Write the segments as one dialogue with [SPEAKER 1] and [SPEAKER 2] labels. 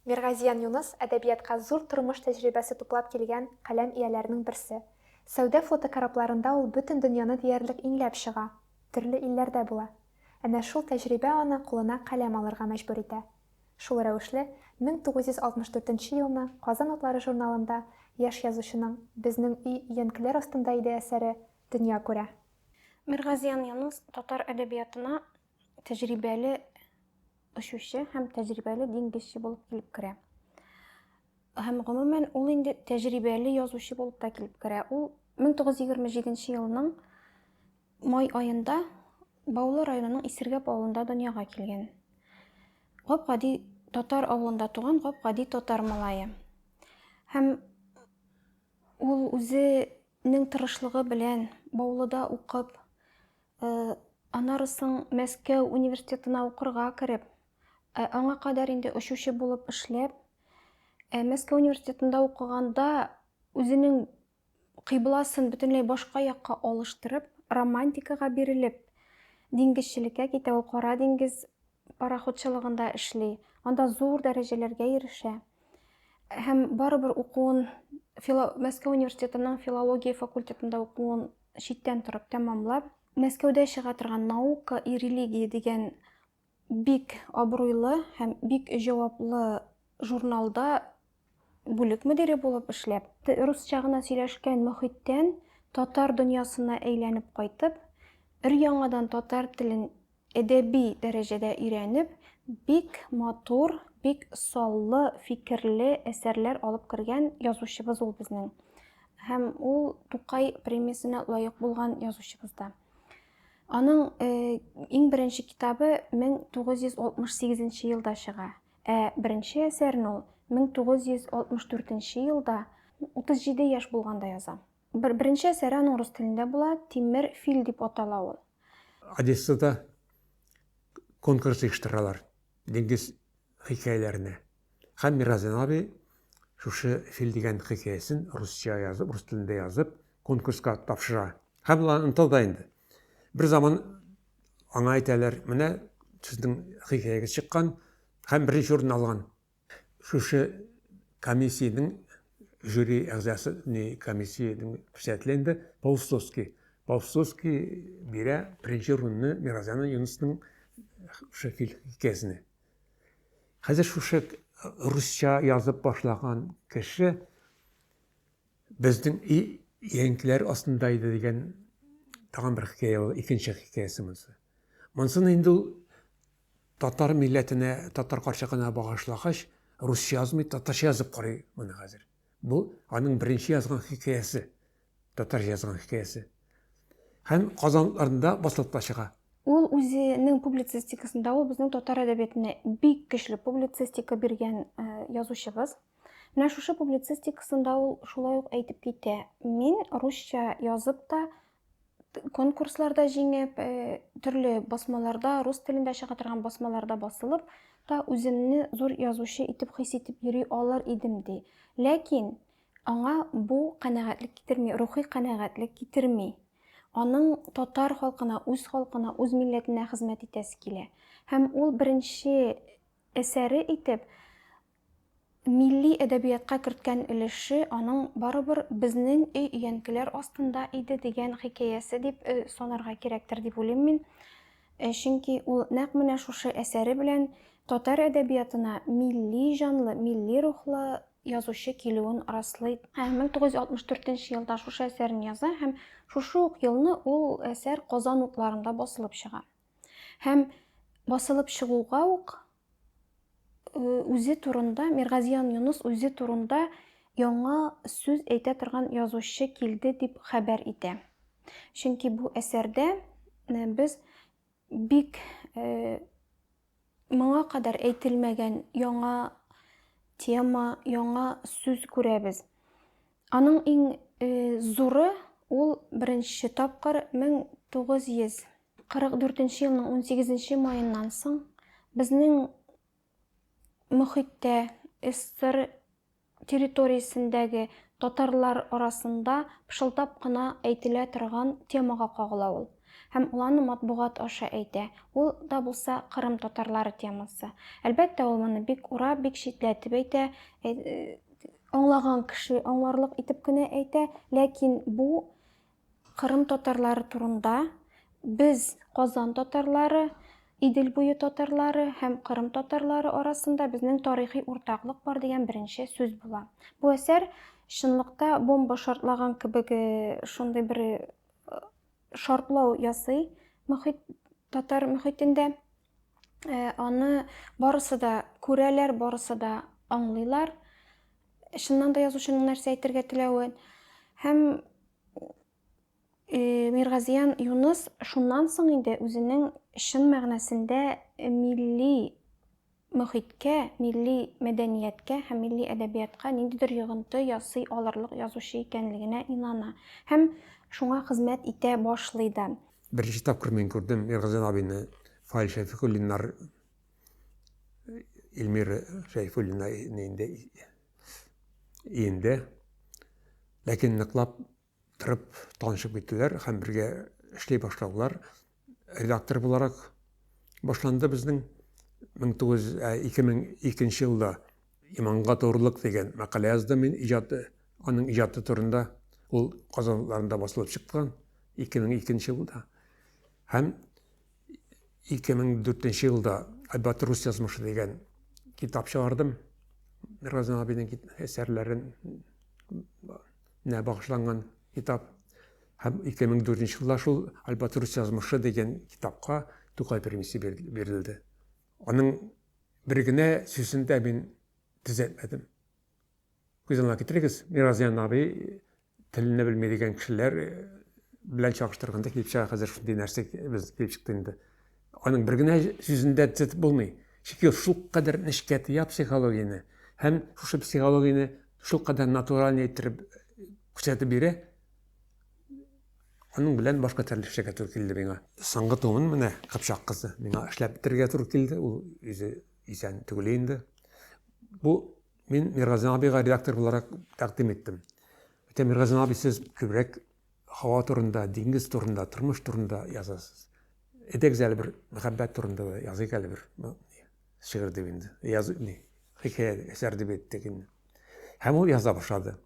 [SPEAKER 1] Миргазиян Юныс, әдәбиятка зур тормыш тәҗрибәсе туплап килгән каләм ияләренең берсе. Сәүдә фотокорабларында ул бөтен дөньяны диярлек иңләп чыга, төрле илләрдә була. Әнә шул тәҗрибә аны кулына каләм алырга мәҗбүр итә. Шул рәвешле, 1964 нче елны Казан утлары журналында яшь язучының Безнең өй өянкеләр астында иде әсәре дөнья күрә. Миргазиян
[SPEAKER 2] Юныс татар әдәбиятына тәҗрибәле очучы һәм тәҗрибәле диңгезче булып килеп керә. Һәм гомумән ул инде тәҗрибәле язучы булып та килеп керә. Ул 1927 елның май айында Баулы районының Исергәп авылында дөньяга килгән. Гап-гади татар авылында туган гап-гади татар малае. Һәм ул үзенең тырышлыгы белән Баулыда укып, Э, аннары соң Мәскәү университетына укырга кереп, э, аңа кадәр инде очучы булып эшләп, э, Мәскәү университетында укыганда үзенең кыйбласын бөтенләй башка якка алыштырып, романтикага бирелеп, диңгезчелеккә китә, ул Кара диңгез пароходчылыгында эшли, анда зур дәрәҗәләргә ирешә һәм барыбер укуын фило... Мәскәү университетының филология факультетында укуын читтән торып тәмамлап, Мәскәүдә чыга торган Наука и религия дигән бик абруйлы һәм бик җаваплы журналда Бүлек мөдире булып эшләп, русча гына сөйләшкән мохиттән татар дөньясына әйләнеп кайтып, өр-яңадан татар телен әдәби дәрәҗәдә өйрәнеп, бик матур, бик саллы фикерле әсәрләр алып кергән язучыбыз ул безнең. Һәм ул Тукай премиясенә лаек булган язучыбыз да. Аның э, иң беренче китабы 1968 елда чыга. Ә беренче әсәрен ул 1964 нче елда, 37 яшь булганда яза. Бер, беренче әсәре аның рус телендә була, Тимер фил дип атала ул. Одессада
[SPEAKER 3] конкурс оештыралар диңгез хикәяләренә. Һәм Миразен абый шушы фил дигән хикәясен русча язып, рус телендә язып, конкурска тапшыра. Һәм ул аны оныталда инде. Бер заман Аңа әйтәләр, менә сезнең хикәягез чыккан һәм беренче урынны алган. Шушы комиссиянең жюри әгъзасы, не комиссиянең председателе инде Паустовский. Паустовский бирә беренче урынны Миразяна Юнусның шушы хикәясенә. Хәзер шушы русча язып башлаган кеше Безнең өй янкиләр астында иде дигән тагын бер хикәя ул, икенче хикәясе монысы. Монсын инде ул татар милләтенә, татар карчыгына багышлагач, русча язмый, татарча язып карый моны хәзер. Бу аның беренче язган хикәясе, татарча язган хикәясе. Һәм Казанларында басылып та чыга. Ул үзенең
[SPEAKER 2] публицистикасында ул безнең татар әдәбиятына бик көчле публицистика биргән э, язучыбыз. Менә шушы публицистикасында ул шулай ук әйтеп китә. Мин русча язып та, конкурсларда җиңеп, э, төрле басмаларда, рус телендә чыга торган басмаларда басылып та үземне зур язучы итеп хис итеп йөри алыр идем ди. Ләкин аңа бу канәгатьлек китерми, рухи канәгатьлек китерми. Аның татар халкына, үз халкына, үз милләтенә хезмәт итәсе килә. Һәм ул беренче әсәре итеп Милли әдәбиятка керткән өлеше аның барыбер безнең өй өянкеләр астында иде дигән хикәясе дип санарга кирәктер дип уйлыйм мин. Чөнки ул нәкъ менә шушы әсәре белән татар әдәбиятына милли җанлы, милли рухлы язучы килүен раслый. 1964 елда шушы әсәрен яза һәм шушы ук елны ул әсәр Казан укларында басылып чыга. Һәм басылып чыгуга ук үзе турында Миргазиян Юнус үзе турында яңа сүз әйтә торган язучы килде дип хәбәр итә. Чөнки бу әсәрдә э, без бик э, моңа кадәр әйтелмәгән яңа тема, яңа сүз күрәбез. Аның иң э, зуры ул беренче тапкыр 1900 44 нче елның 18 нче маеннан соң безнең мөхиттә СССР территориясендәге татарлар арасында пышылдап кына әйтелә торган темага кагыла ул һәм ул аны матбугат аша әйтә, ул да булса Кырым татарлары темасы. Әлбәттә, ул моны бик урап, бик читләтеп әйтә, аңлаган кеше аңларлык итеп кенә әйтә, ләкин бу Кырым татарлары турында без Казан татарлары, Идел буе татарлары һәм Кырым татарлары арасында безнең тарихи уртаклык бар дигән беренче сүз була. Бу әсәр чынлыкта бомба шартлаган кебек э, шундый бер э, шартлау ясый мөхит, татар мөхитендә. Э, аны барысы да күрәләр, барысы да аңлыйлар. Чыннан да язучының нәрсә әйтергә теләвен һәм Э, Миргазиян Юныс шуннан соң инде үзенең чын мәгънәсендә милли мөхиткә, милли мәдәнияткә һәм милли әдәбиятка ниндидер йогынты ясый алырлык язучы икәнлегенә инана һәм шуңа хезмәт итә башлый да. Беренче тапкыр мин
[SPEAKER 3] күрдем Миргазиян абыйны Фаил Шәйфуллиннар, Эльмира Шәйфуллина инде иенде. Ләкин ныклап тырып танышып киттеләр һәм бергә эшли башлаулар редактор буларак башланды безнең 2002 елда иманга турлык дигән мәкалә яздым мин иҗаты аның иҗаты турында ул казанларында басылып чыккан 2002 елда һәм 2004 елда Альбат рус язмышы дигән китап чыгардым. Разин абиның әсәрләрен нә багышланган китап. Һәм 2004 елда шул Альбат рус язмышы дигән китапка Тукай премиясе бирелде. Аның бер генә сүзен дә мин төзәтмәдем. Күз алдына китерегез, Миразян абый телне белми дигән кешеләр э, белән чагыштырганда килеп чыга хәзер шундый нәрсә без килеп чыкты инде. Аның бер генә сүзендә төзәтеп булмый. Чөнки ул шулкадәр нечкә тыя психологияне һәм шушы психологияне шулкадәр натуральный иттереп күрсәтеп бирә. Аның белән башка төрле эшләргә туры килде миңа. Соңгы томын менә Кыпчак кызы миңа эшләп бетерергә туры килде. Ул үзе исән түгел инде. Бу мин Миргазин абыйга редактор буларак тәкъдим иттем. Әйтә Миргазин абый сез күбрәк һава турында, диңгез турында, тормыш турында язасыз. Эдегез әле бер мәхәббәт турында да языйк әле бер шигырь дип инде. Яз ни, хикәя әсәр дип әйттек инде. Һәм ул яза башлады.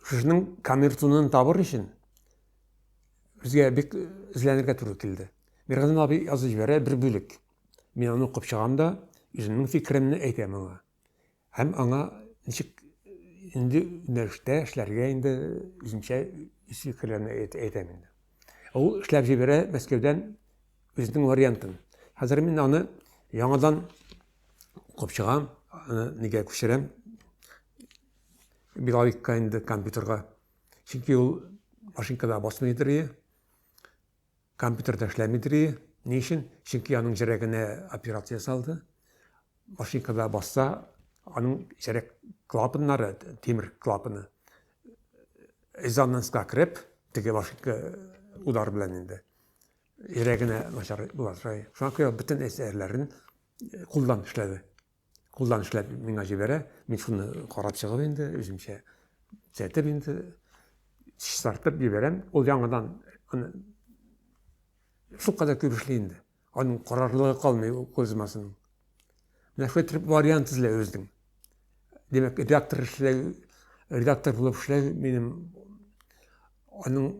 [SPEAKER 3] Шушының камертунын табыр өчен безгә бик эзләнергә туры килде. Миргазин абый язып җибәрә бер бүлек. Мин аны укып чыгам да, үземнең фикеремне әйтәм аңа. Һәм аңа ничек инде юнәлештә эшләргә инде үземчә үз фикерләрне әйтәм инде. Ә ул эшләп җибәрә Мәскәүдән үзенең вариантын. Хәзер мин аны яңадан укып чыгам, аны нигә күчерәм. Билавикка инде компьютерга. Чөнки ул машинкада басмыйдыр. Компьютер да эшләми дрие. Ни өчен? Чөнки аның җәрәгенә операция ясалды. Машинкада басса, аның җәрәк клапаннары, тимер клапаны, резонанска кереп, теге машинка удар белән инде йөрәгенә начар була шуңа күрә бөтен әсәрләрен кулдан эшләде кулдан эшләп миңа җибәрә. Мин шуны карап чыгып инде, үземчә төзәтеп инде, чистартып җибәрәм. Ул яңадан аны шул кадәр күп эшли инде. Аның карарлыгы калмый кузмасының. Менә шулай итеп вариант эзлә үзең. Димәк, редактор эшләү, редактор булып эшләү минем аның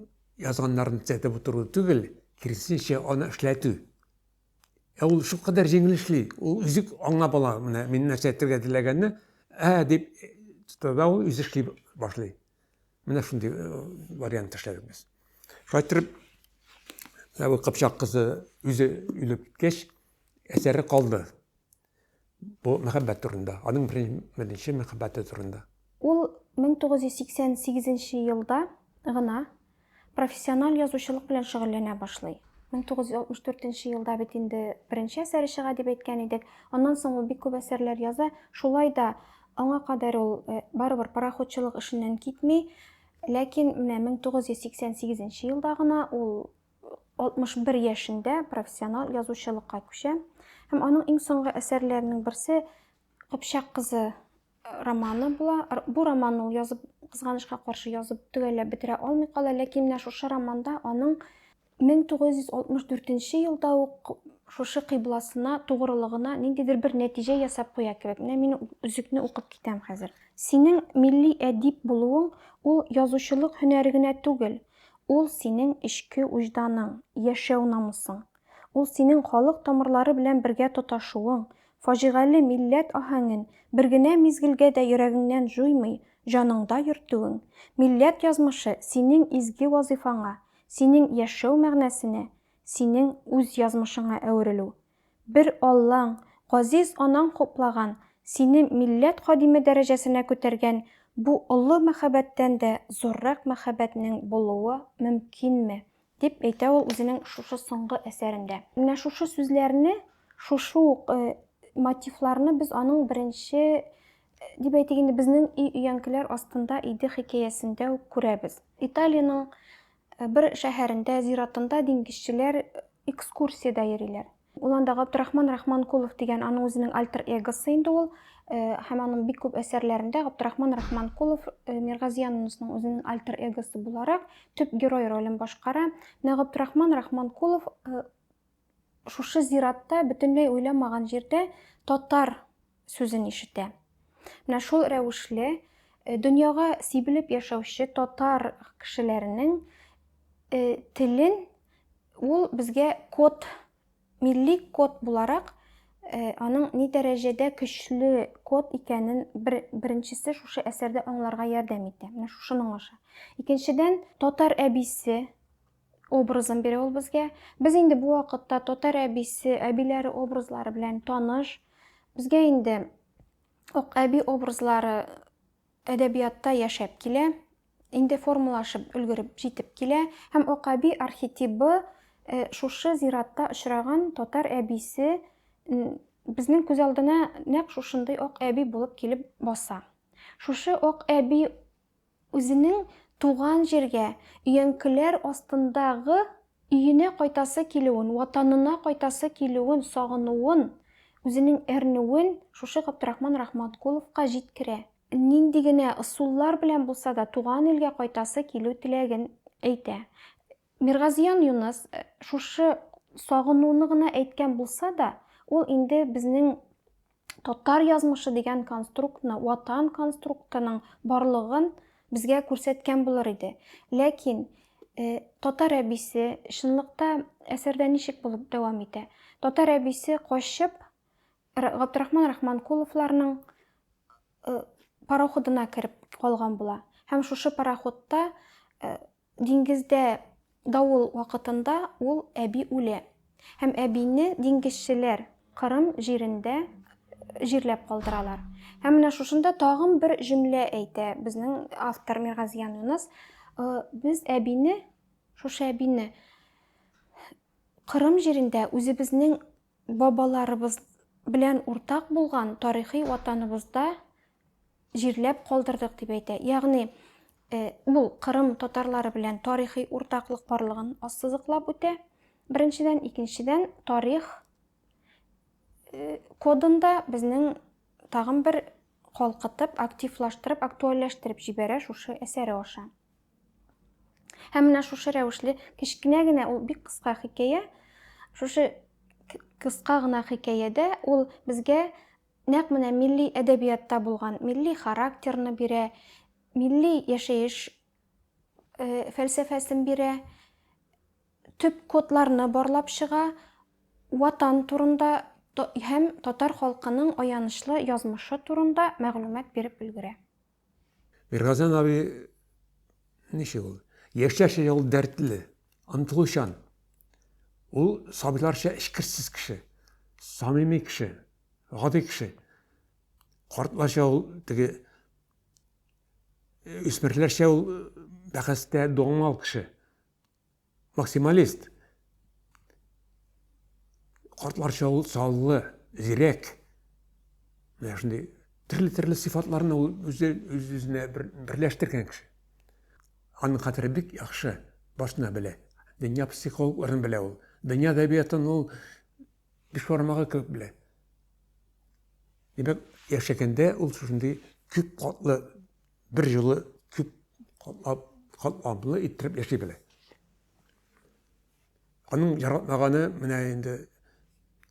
[SPEAKER 3] язганнарын төзәтеп утыру түгел, киресенчә аны эшләтү. Ә ул шул кадәр җиңел эшли, ул үзе аңлап ала, менә мин нәрсә әйтергә теләгәнне, ә дип тота ул үзе эшли башлый. Менә шундый э, вариант эшләдек без. Шулай итеп, Кыпчак кызы үзе үлеп киткәч, әсәре калды. Бу мәхәббәт турында, аның беренче мәхәббәте турында. Ул
[SPEAKER 2] 1988 елда гына профессиональ язучылык белән шөгыльләнә башлый. 1964 елда бит инде беренче әсәре чыга дип әйткән идек. Аннан соң ул бик күп әсәрләр яза. Шулай да аңа кадәр ул э, барыбер пароходчылык эшеннән китми. Ләкин менә 1988 елда гына ул 61 яшендә профессионал язучылыкка күчә һәм аның иң соңгы әсәрләренең берсе Кыпчак кызы романы була. Бу романны ул язып, кызганычка каршы язып төгәлләп бетерә алмый кала, ләкин менә шушы романда аның 1964 елда ук шушы кыйбласына, тугрылыгына ниндидер бер нәтиҗә ясап куя кебек. Менә мин үзекне укып китәм хәзер. Синең милли әдип булуың ул язучылык һөнәре генә түгел, Ул, синең эчке уҗданың, яшәү намусың. Ул, синең халык тамырлары белән бергә тоташуың, фаҗигале милләт аһәңен бер генә мизгелгә дә йөрәгеңнән җуймый, җаныңда йөртүең, милләт язмышы, синең изге вазыйфаңа, синең яшәү мәгънәсенә, синең үз язмышыңа әверелү. Бер Аллаң, газиз анаң хуплаган, сине милләт кадиме дәрәҗәсенә күтәргән бу олы мәхәббәттән дә зуррак мәхәббәтнең булуы мөмкинме? дип әйтә ул үзенең шушы соңгы әсәрендә. Менә шушы сүзләрне, шушы ук мотивларны без аның беренче, дип әйтик инде, Безнең өй өянкеләр астында иде хикәясендә үк күрәбез. Италиянең Бер шәһәрендә, зиратында диңгезчеләр экскурсиядә йөриләр. Ул анда Габдрахман Рахманкулов дигән аның үзенең альтер-эгосы инде ул. Һәм аның бик күп әсәрләрендә Габдрахман Рахманкулов Миргазия Нунусның үзенең альтер-эгосы буларак төп герой ролен башкара. Менә Габдрахман Рахманкулов Шушы зиратта, бөтенләй уйламаган җирдә татар сүзен ишетә. Менә шул рәвешле э, дөньяга сибелеп яшәүче татар кешеләренең э, телен ул безгә код, милли код буларак э, аның ни дәрәҗәдә көчле код икәнен бер, беренчесе шушы әсәрдә аңларга ярдәм итә. Менә шушы моңаша. Икенчедән, татар әбисе образын бирә ул безгә. Без инде бу вакытта татар әбисе, әбиләре образлары белән таныш. Безгә инде ак әби образлары әдәбиятта яшәп килә, инде формалашып өлгереп җитеп килә һәм ак әби архетибы э, шушы зиратта очраган татар әбисе безнең күз алдына нәкъ шушындый ак әби булып килеп баса. Шушы ак әби Үзенең туган җиргә, өянкеләр астында гы өенә кайтасы килүен, ватанына кайтасы килүен, сагынуын, үзенең әрнүен шушы Габдрахман Рахматкуловка җиткерә. Нинди генә ысуллар белән булса да туган илгә кайтасы килү теләген әйтә. Миргазиян Юныс шушы сагынуны гына әйткән булса да, ул инде безнең татар язмышы дигән конструктны, ватан конструктының барлыгын безгә күрсәткән булыр иде. Ләкин э, татар әбисе чынлыкта әсәрдә ничек булып дәвам итә? Татар әбисе качып Габдрахман Рахманкуловларның э, пароходына кереп калган була. Һәм шушы пароходта э, Диңгездә давыл вакытында ул әби үлә һәм әбине диңгезчеләр Кырым җирендә җирләп калдыралар. Һәм менә шушында тагын бер җөмлә әйтә безнең автор Миргазиян Юныс, без әбине, шушы әбине Кырым җирендә үзебезнең Бабаларыбыз белән уртак булган тарихи ватаныбызда җирләп калдырдык, дип әйтә. Ягъни, ул Кырым татарлары белән тарихи уртаклык барлыгын ассызыклап үтә, беренчедән. Икенчедән, тарих кодында безнең тагын бер калкытып, активлаштырып, актуальләштереп җибәрә шушы әсәре аша. һәм менә шушы рәвешле кечкенә генә ул бик кыска хикәя шушы кыска гына хикәядә ул безгә нәкъ менә милли әдәбиятта булган милли характерны бирә милли яшәеш э, фәлсәфәсен бирә төп кодларны барлап чыга ватан турында һәм татар халкының аянычлы язмышы турында мәгълүмат биреп өлгерә
[SPEAKER 3] Иргазан абый ничек ул? Яшьләрчә ул дәртле, омтылучан. Ул сабыйларча эчкерсез кеше, самими кеше, гади кеше. Картларча ул теге үсмерләрчә ул бәхәстә доңал кеше. Максималист. Картларча ул саллы, зирәк. Менә шундый төрле-төрле сыйфатларны ул үзе үзенә берләштергән кеше. Аның хәтере бик яхшы, башына белә. Дөнья психологларын белә ул. Дөнья әдәбиятын ул биш бармагы кебек белә. Димәк, яшәгәндә ул шундый күп катлы бер җылы күп катлап, катлаплы иттереп яши белә. Аның яратмаганы менә инде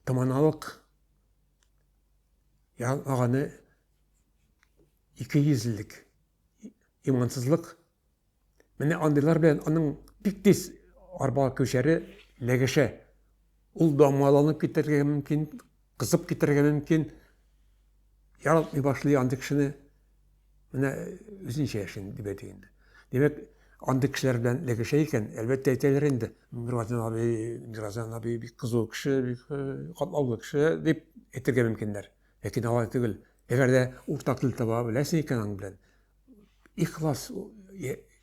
[SPEAKER 3] томаналык яратмаганы ике йөзлелек имансызлык Менә андыйлар белән аның бик тиз арбага күчәре ләгәшә. Ул дамаланып китәргә мөмкин, кызып китәргә мөмкин. Яратмый башлый андый кешене. Менә үзенчә яшен дип әйтик инде. Димәк, андый кешеләр белән ләгәшә икән, әлбәттә әйтәләр инде. Миразан абый, Миразан абый бик кызу кеше, бик катлаулы кеше дип әйтергә мөмкиннәр. Ләкин алай түгел. Әгәр дә уртак тел таба беләсең икән аның белән, ихлас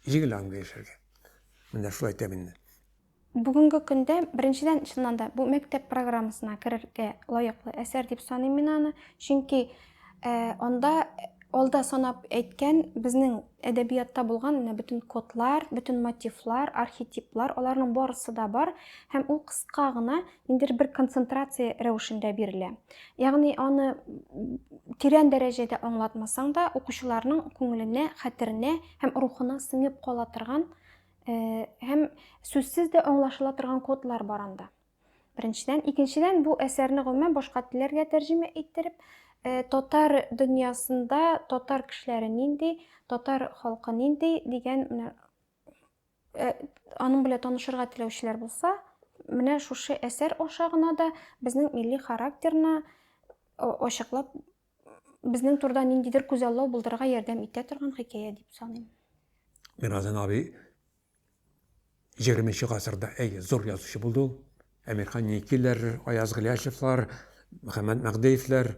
[SPEAKER 3] җиңел аңлы яшәргә. Менә шулай әйтәм инде. Бүгенге
[SPEAKER 2] көндә, беренчедән, чыннан да, бу мәктәп программасына керергә лаеклы әсәр дип саныйм мин аны. Чөнки анда алда санап әйткән безнең әдәбиятта булган менә бөтен кодлар, бөтен мотивлар, архетиплар, аларның барысы да бар һәм ул кыска гына ниндидер бер концентрация рәвешендә бирелә. Ягъни аны тирән дәрәҗәдә аңлатмасаң да, укучыларның күңеленә, хәтеренә һәм рухына сеңеп кала торган э, һәм сүзсез дә аңлашыла торган кодлар бар анда. Беренчедән, икенчедән бу әсәрне гомумән башка телләргә тәрҗемә иттереп, э, татар дөньясында татар кешеләре нинди, татар халкы нинди дигән Э, аның белән танышырга теләүчеләр булса, менә шушы әсәр аша гына да безнең милли характерны ачыклап, безнең турда ниндидер күзаллау булдырырга ярдәм итә торган хикәя дип саныйм. Миразен
[SPEAKER 3] абый 20 гасырда әй зур язучы булды ул. Әмирхан Никиләр, Аяз Гыйләҗевлар, Мөхәммәт Мәгъдеевләр,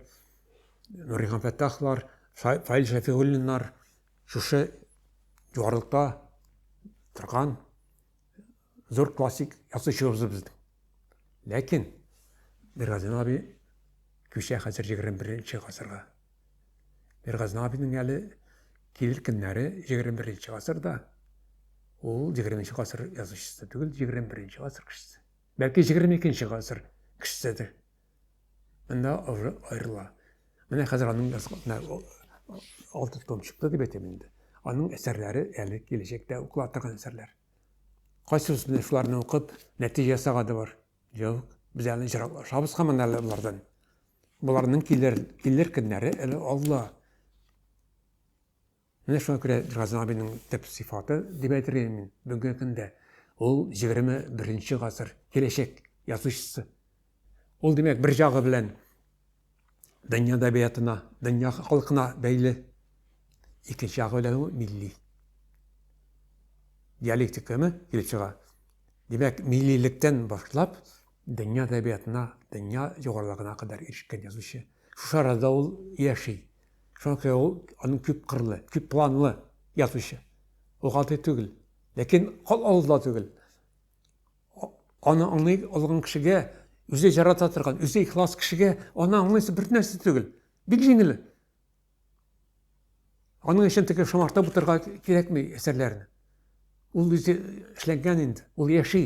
[SPEAKER 3] Нурихан Фәттахлар, Фаил Шәфигуллиннар шушы югарылыкта торган зур классик язучыбыз безнең. Ләкин Миргазин абый күчә хәзер 21 нче гасырга. Мир Газнабиның әле килер көннәре 21 нче гасырда. Ул 20 нче гасыр язучысы түгел, 21 нче гасыр кешесе. Бәлки 22 нче гасыр кешеседер. Монда уже аерыла. Менә хәзер аның язган алты том чыкты дип әйтәм инде. Аның әсәрләре әле киләчәктә укыла торган әсәрләр. Кайсыбыз менә шуларны укып, нәтиҗә ясаганы бар. Юк, без әле җыраклашабыз һаман әле болардан. Боларның килер, килер көннәре әле алла. Менә шуңа күрә Газин абиның төп сыйфаты дип әйтергә мин бүгенге көндә ул 21 гасыр киләчәк язучысы. Ул димәк бер ягы белән дөнья әдәбиятына, дөнья халкына бәйле. Икенче ягы белән ул милли. Диалектиканы килеп чыга. Димәк, миллилектән башлап, дөнья әдәбиятына, дөнья югарылыгына кадәр ирешкән язучы. Шушы арада ул яши. Шуңа күрә ул аның күп кырлы, күп планлы язучы. Ул гади түгел. Ләкин кал алда түгел. Аны аңлый алган кешегә, үзе ярата торган, үзе ихлас кешегә аны аңлыйсы бер нәрсә түгел. Бик җиңел. Аның өчен теге шомартып утырга кирәкми әсәрләрне. Ул үзе эшләнгән инде, ул яши.